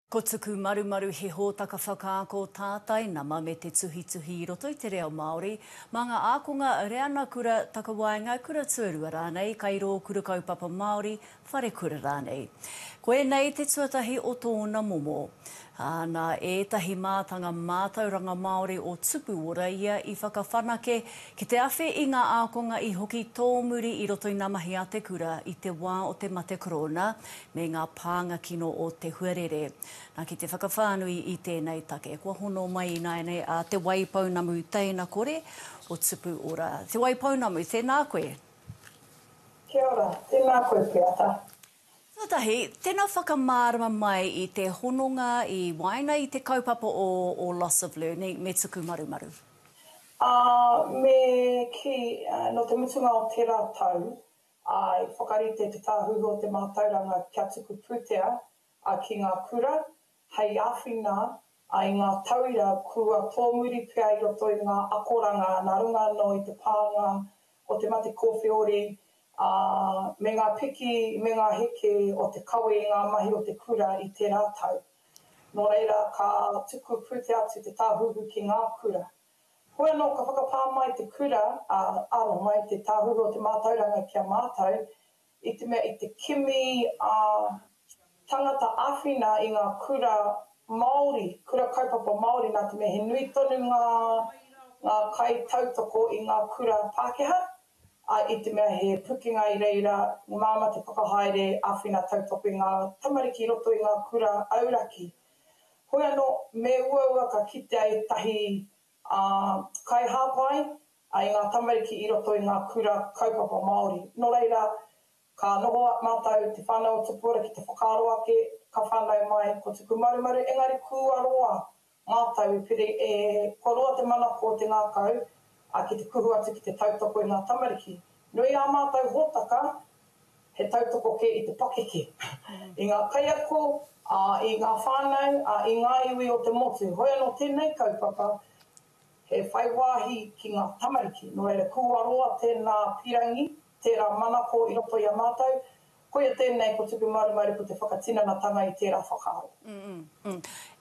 Ko Tuku Marumaru he hōtaka whakaako tātai nama me te tuhituhi i roto i te reo Māori, mā ngā ākonga, reanga kura, takawaenga, kura tuarua rānei, kairō, kura kaupapa Māori, wharekura rānei. Ko ēnei te tuatahi o tōna momo. Ā, nā ētahi mātanga mātauranga Māori o Tupuora ia i whakawhanake ki te awhi i ngā ākonga i hoki tōmuri i roto i ngā mahi a te kura i te wā o te mate korona, me ngā pānga kino o te huarere. Nā, ki te whakawhānui i tēnei take, kua hono mai ināianei a Te Wai Pounamu Teina Kore o Tupu Ora. Te Wai Pounamu, tēnā koe. Kia ora, tēnā koe Peata. Tuatahi, tēnā whakamārama mai i te hononga i waenga i te kaupapa o o Loss of Learning me Tukumarumaru. Ā, me kī, nō te mutunga o tērā tau, ā, i whakarite Te Tāhuhu o te Mātauranga kia tuku pūtea ki ngā kura hei āwhina i ngā tauira kua tōmuri pea i roto i ngā akoranga nā runga anō i te pānga o te mate kōwheori me ngā piki me ngā heke o te kawe i ngā mahi o te kura i tērā tau. Nō reira, ka tuku pūtea atu Te Tāhuhu ki ngā kura. Hoi anō ka whakapā mai te kura a aro mai te Tāhuhu o te Mātauranga ki a mātou i te mea i te kimi a tangata awhina i ngā kura Māori, kura kaupapa Māori nā te mea he nui tonu ngā ngā kai tautoko i ngā kura Pākehā a i te mea he pukenga i reira māma te whakahaere awhina tautoko i ngā tamariki i roto i ngā kura auraki. Hoi anō, me uaua ka kitea ētahi kaihāpai i ngā tamariki i roto i ngā kura kaupapa Māori. Nō reira, ka noho mātou te whānau o Tupuara ki te whakaaro ake, ka whānau mai ko Tuku Marumaru, engari kua roa mātou i piri e, kua roa te manako o te ngākau ki te kuhu atu ki te tautoko i ngā tamariki. Nui ā mātou hōtaka He tautoko kē i te pakeke, i ngā kaiako, ā, i ngā whānau, ā, i ngā iwi o te motu. Hoi anō tēnei kaupapa he whai wāhi ki ngā tamariki. Nō reira, kua roa tēnā pirangi, tērā manako i roto i a mātou. Koia tēnei ko Tupu Maru Maru ko te whakatinanatanga i tērā whakaaro.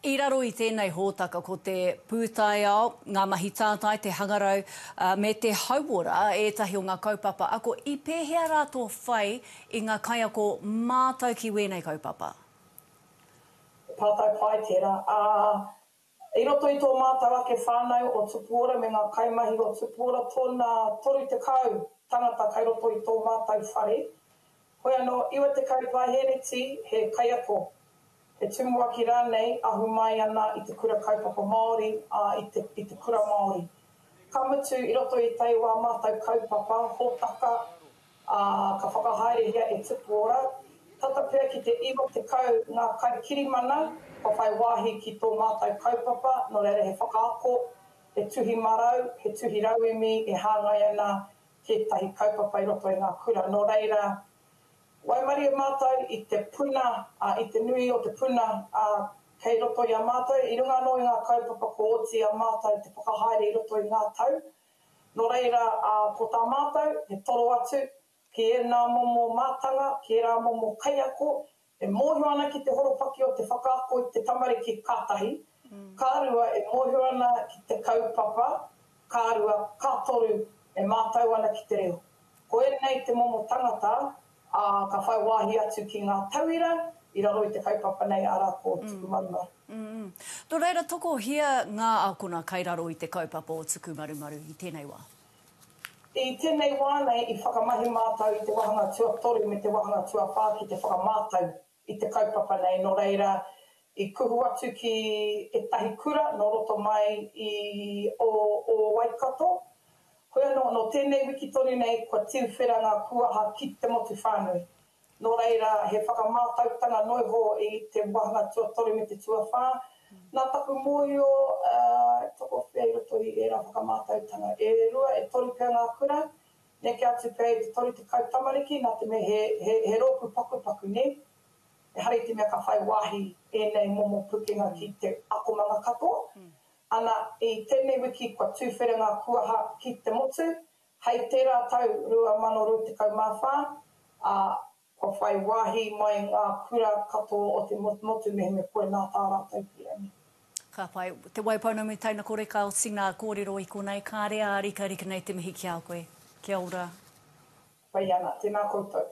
I raro i tēnei hōtaka ko te pūtaiao, ngā mahi tātai, te hangarau me te hauora ētahi o ngā kaupapa ako. I pēhea rā tō whai i ngā kaiako mātau ki wēnei kaupapa? He pātai pai tērā, ā, i roto i tō mātau ake whānau o Tupuora me ngā kaimahi o Tupuora, tōna 30 tangata kai roto i tō mātau whare, Hoi anō, 90 paehereti he kaiako, he tumuaki rānei ahu mai ana i te kura kaupapa Māori, ā, i te kura Māori. Ka mutu, i roto i tae wā mātou kaupapa, hōtaka, ā, ka whakahaerehia e Tupu Ora, tata pea ki te 90 ngā kaikirimana kua whai wāhi ki tō mātou kaupapa, nō reira he whakaako, he tuhi marau, he tuhi rauemi e hāngai ana tētahi kaupapa i roto i ngā kura. Nō reira, waimarie mātou i te puna, ā, i te nui o te puna, ā, kei roto i a mātou, i runga anō i ngā kaupapa kua oti i a mātou te whakahaere i roto i ngā tau. Nō reira, ā, ko tā mātou, me toro atu ki ēnā momo mātanga, ki ērā momo kaiako, E mōhio ana ki te horopaki o te whakaako i te tamariki ka tahi, ka rua e mōhio ana ki te kaupapa, ka rua, ka toru e mātau ana ki te reo. Ko ēnei te momo tangata, ā, ka whai wāhi atu ki ngā tauira i raro i te kaupapa nei, arā, ko Tukumarumaru. Nō reira, tokohia ngā ākona kai raro i te kaupapa o Tukumarumaru i tēnei wā. I tēnei wā nei i whakamahi mātou i te wāhanga tuatoru me te wāhanga tuawhā ki te whakamātau i te kaupapa nei, nō reira, i kuhu atu ki ētahi kura nō roto mai i o o Waikato. Hoi anō, nō tēnei wiki tonu nei kua tiuwhera ngā kūaha ki te motu whānui. Nō reira, he whakamātautanga noiho i te wāhanga tuatoru me te tuawhā. Nā taku mōhio, e tokowhea i roto i ērā whakamātautanga e rua, e toru pea ngā kura, neke atu pea i te 30 tamariki, nā te mea he rōpū pakupaku, nē? Ehara i te mea ka whai wāhi ēnei momo pukenga ki te akomanga katoa, ana, i tēnei wiki kua tūwhera ngā kuaha ki te motu, Hei tērā tau 2024, ā, kua whai wāhi mai ngā kura katoa o te motumotu mehemea koe nā tā rātou pīrangi. Ka pai. Te Wai Pounamu Taina Kore Ka oti ngā kōrero i konei Kāre ā rikarika nei te mihi ki a koe. Kia ora. Pai ana. Tēnā koutou.